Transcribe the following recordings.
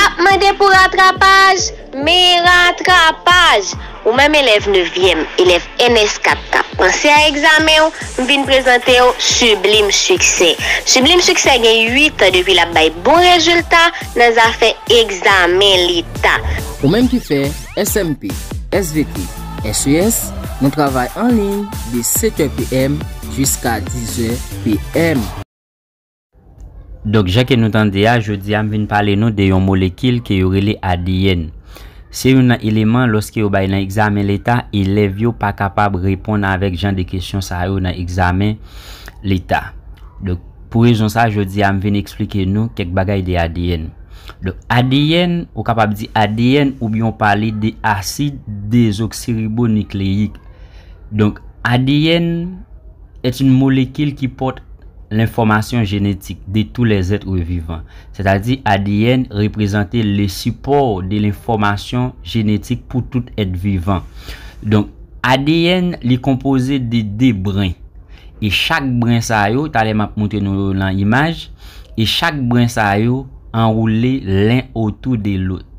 Ap mande pou ratrapaj? Men ratrapaj! Ou menm elèv nevyèm, elèv ns 4 k ap panse a egzamen w, m vin prezante w Sublime Succès. Sublime Succès gen 8 an depi l ap bay bon rezilta nan zafè egzamen Leta. Ou menm ki fè SMP, svp, ses, nou travay anliy de 7 è PM jiska 10 è PM. Donk jan ke nou tande a, jodi a m vin pale nou de yon molekil ke yo rele adn. Se youn nan eleman lòske yo bay nan egzamen leta, elèv yo pa kapab reponn avèk jan de kesyon sa yo nan egzamen leta. Donk pou rezon sa jodi a m vin eksplike nou kèk bagay de adn. Donk adn, ou kapab di adn oubyen ou pale de asid dezoksiribonikleyik. Donk adn. est une molécule qui porte l'information génétique de tous les êtres vivants, sètadi adn reprezante le support de l'information génétique pou tout èt vivan. Donk, adn li konpoze de 2 brin, e chak brin sa yo, talè m ap moutre nou yo lan imaj, e chak brin sa yo anwoule len otou de lot.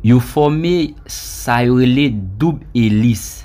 Yo fòme sa yo rele doub elis.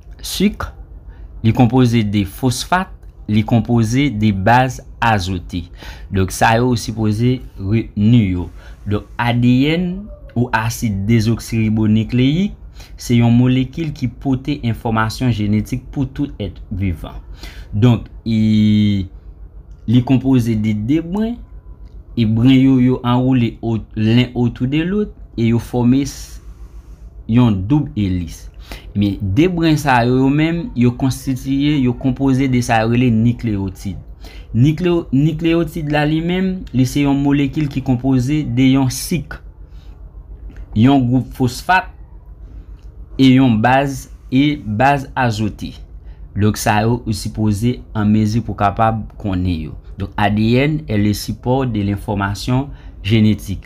Suk, li konpoze de fosfat, li konpoze de baz azote. Donk sa yo ou sipoze retni yo. Donk adn ou asid dezoksiribonikleyik se yon molekil ki pote enfòmasyon jenetik pou tout èt vivan. Donk e li konpoze de de brin e brin yo yo anwoule len otou de lôt e yo fòme. yon doub elis. Ebyen, 2 bren sa yo yo menm, yo konstitiye, yo konpoze de sa yo rele nikleyotid. Nikleyotid la li menm, li se yon molekil ki konpoze de yon sik, yon gwoup fosfat, e yon baz, e baz azote. Donk sa yo ou sipoze an mezi pou kapab konnen yo. Donk adn e le sipò de lenfòmasyon jenetik.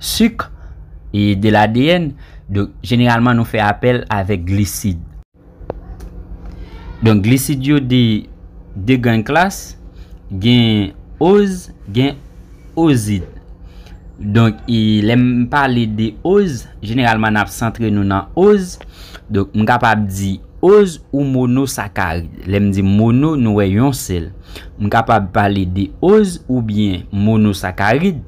Sucre e de l'ADN, donk jeneralman nou fè apèl avèk glisid. Donk glisid yo de 2 grann klas, gen oz, gen ozid. Donk e lè m pale de oz, jeneralman n ap santre nou nan oz, donk m kapab di oz ou monosakarid. Lè m di mono nou wè yon sèl. M kapab pale de oz oubyen monosakarid.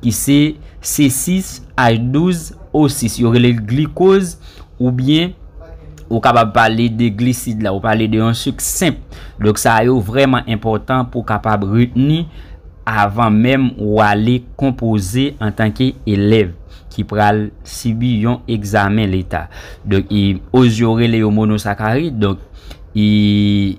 ki se C6 H12 O6 yo rele l glikoz ou byen ou kapab pale de glisid la ou pale de yon sik senp donk sa yo vrèman enpòtan pou kapab retni avan menm ou ale konpoze antanke elèv ki pral sibi yon egzamen leta donk oz yo rele yo monosakarid donk i.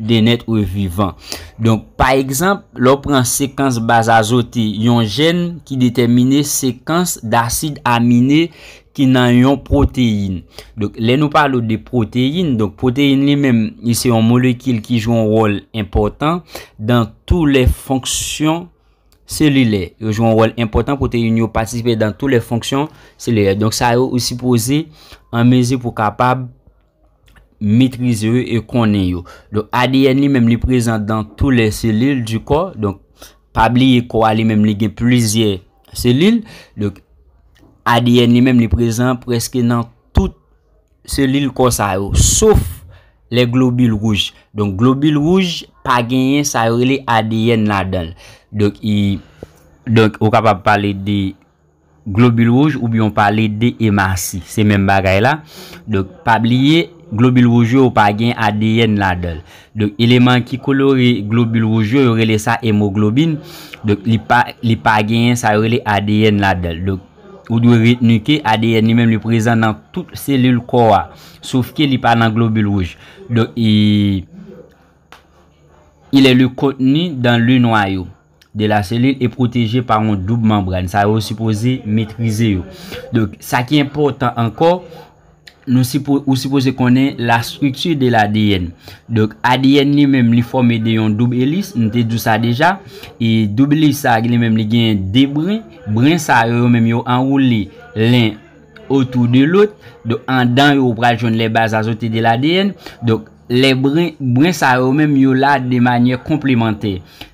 de nèt re vivan. Donk, pa egzanp, lè w pran sekans baz azote yon jèn ki detèmine sekans dasid amine ki nan yon pwoteyin. Donk, lè nou pale w de pwoteyin, donk pwoteyin li menm li se yon molekil ki jwe yon wòl enpòtan dan tou lè fonksyon selilè. Yo jwe yon wòl enpòtan, pwoteyin yo patisipe dan tou lè fonksyon selilè. Donk sa yo ou sipoze an mezi pou kapab. metrize yo e konnen yo. Donk ADN li menm li prezan dan tou lè selil di kò. Donk pa bliye kò a li menm li gen plizyè selil. Donk ADN li menm li prezan preske nan tout selil kò sa yo. Sof lè globil wouj. Donk globil wouj pa genyen sa yo rele ADN la dan. Donk ou kapab pale de. Globil wouj oubyen w pale de emasi, se menm bagay la. Donk, pa bliye, globil wouj yo, yo pa gen adn ladan l. Donk, eleman ki kolore globil wouj yo, yo rele sa emoglobin. Donk, li pa, li pa genyen sa yo rele adn ladan l. Donk, ou dwe retni ke adn li menm li prezan nan tout selil kò a. Sof ke li pa nan globil wouj. Donk, il est le contenu dans le noyau. de la selil e pwoteje pa yon doub manbràn sa yo sipoze metrize yo donk sa ki enpòtan ankò nou sipoze ou sipoze konnen la strikti de la ADN donk ADN li menm li fòme de yon doub elis m te di w sa deja e doub elis sa li menm li gen 2 brin brin sa yo yo menm yo anwoule len otou de lòt donk andan yo ou pral jwenn lè baz azote de la ADN donk lè brin brin sa yo menm yo la de manyè konplemantè.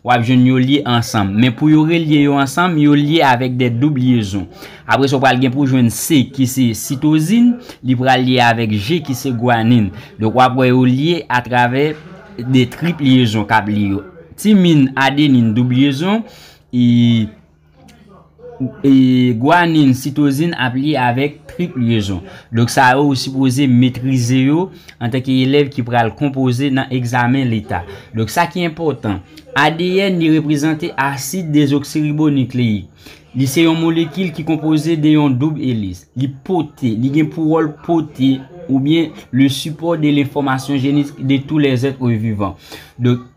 W ap jwenn yo lye ansanm. Men pou yo relye yo ansanm, yo lye avèk de doub lyezon. Apre sa w pral gen pou w jwenn se ki se sitozin, li pral lye avèk je ki se gwanin. Donk w ap wè yo lye atravè de trip lyezon k ap lye yo. Timin, adenin, doub lyezon, e. Gwanin, sitozin ap lye avèk trip lyezon. Donk sa yo ou sipoze metrize yo antanke elèv ki pral konpoze nan egzamen leta. Donk sa ki enpòtan, adn li reprezante asid dezoksiribonikleik. Li se yon molekil ki konpoze de yon doub elis. Li pote, li gen pou wòl pote oubyen le sipò de lenfòmasyon jenetik de tou lèzèt vivan. Donk.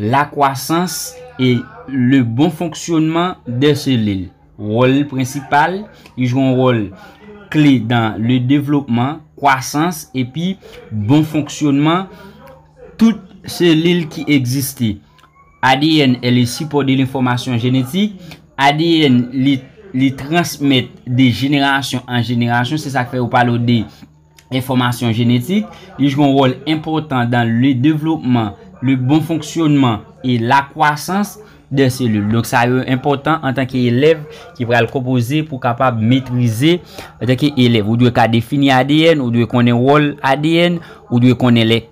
La kwasans e le bon fonksyonman de selil. Wòl prensipal, li jwe yon wòl kle dan le devlopman, kwasans epi bon fonksyonman tout selil ki egziste. Adn è le sipò de lenfòmasyon jenetik. Adn li transmèt de jenerasyon an jenerasyon, se sa k fè yo pale w de. enfòmasyon jenetik, li jwe yon wòl enpòtan dan le devlopman, le bon fonksyonman e la kwasans dè selil. Donk sa yo enpòtan antanke elèv ki pral konpoze pou kapab metrize antanke elèv. Ou dwe ka defini adn, ou dwe konnen wòl adn, ou dwe konnen lè.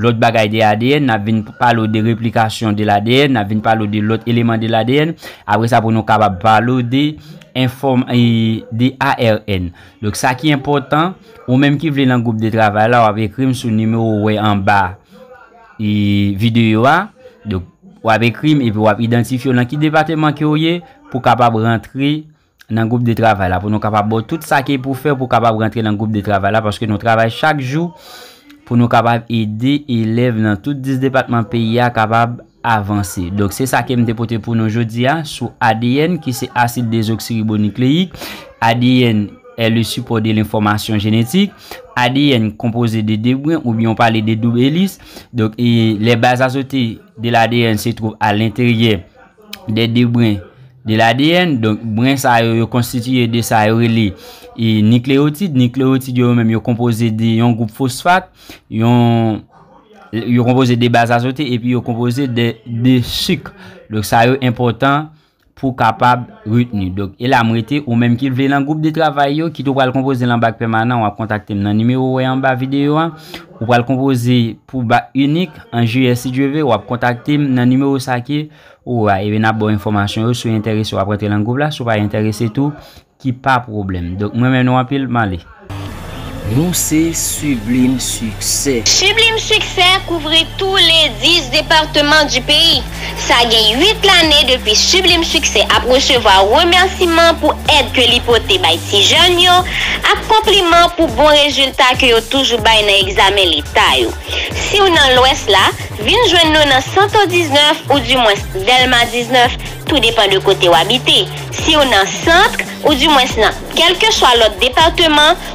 Lòt bagay de adn, n ap vin pale w de replikasyon de ladn, n ap vin pale w de lòt eleman de ladn, apre sa pou nou kapab pale w de enfòm e de ARN. Donk sa ki enpòtan, ou menm ki vle nan gwoup de travay la w ap ekri m sou nimewo ou wè anba e videyo a, donk w ap ekri m epi w ap idantifye w nan ki depateman ke w ye pou w kapab rantre nan gwoup de travay la pou nou kapab baw tout sa ki pou fè pou kapab rantre nan gwoup de travay la paske nou travay chak jou pou nou kapab ede elèv nan tout 10 depatman peyi a kapab avanse. Donk se sa kem te pote pou nou jodi a sou adn ki se asid dezoksiribonikleyik, adn è le sipò de lenfòmasyon jenetik, adn konpoze de 2 brin ou byen ou pale de doub elis, donk e lè baz azote de ladn se twouv a lenteryè. de 2 brin de ladn, donk brin sa yo, yo konstitiye de sa yo rele e nikleyotid, nikleyotid yo yo menm yo konpoze de yon gwoup fosfat, yon yo konpoze de baz azote epi yo konpoze de 2 sik, donk sa yo enpòtan pou kapab retni, donk e la m rete ou menm ki vle nan gwoup de travay yo ki tou pral konpoze lan bak pèmanan w ap kontakte m nan nimewo ou wè anba videyo a. Ou pral konpoze pou bak inik an jiyè si Dye ve, wap kontakte m nan nimewo sa ki ou a epi nap baw enfòmasyon yo si w entèrese wap rantre lan gwoup la si w pa entèrese tou ki pa pwoblèm donk m renmen nou anpil m ale. Nou se Sublime Succès! Sublime Succès kouvri tou les 10 departements du pays. Sa gen 8 lane depi Sublime Succès ap resevwa remèsiman pou èd ke li pote bay ti jèn yo ak konpliman pou bon rezilta ke yo toujou bay nan egzamen leta yo. Siw nan Lwès la, vin jwenn nou nan Santo 19 ou di mwens Dèlma 19, tou depan de kote w abite. Siw nan Centre, ou di mwens nan kèlkeswa lòt departeman,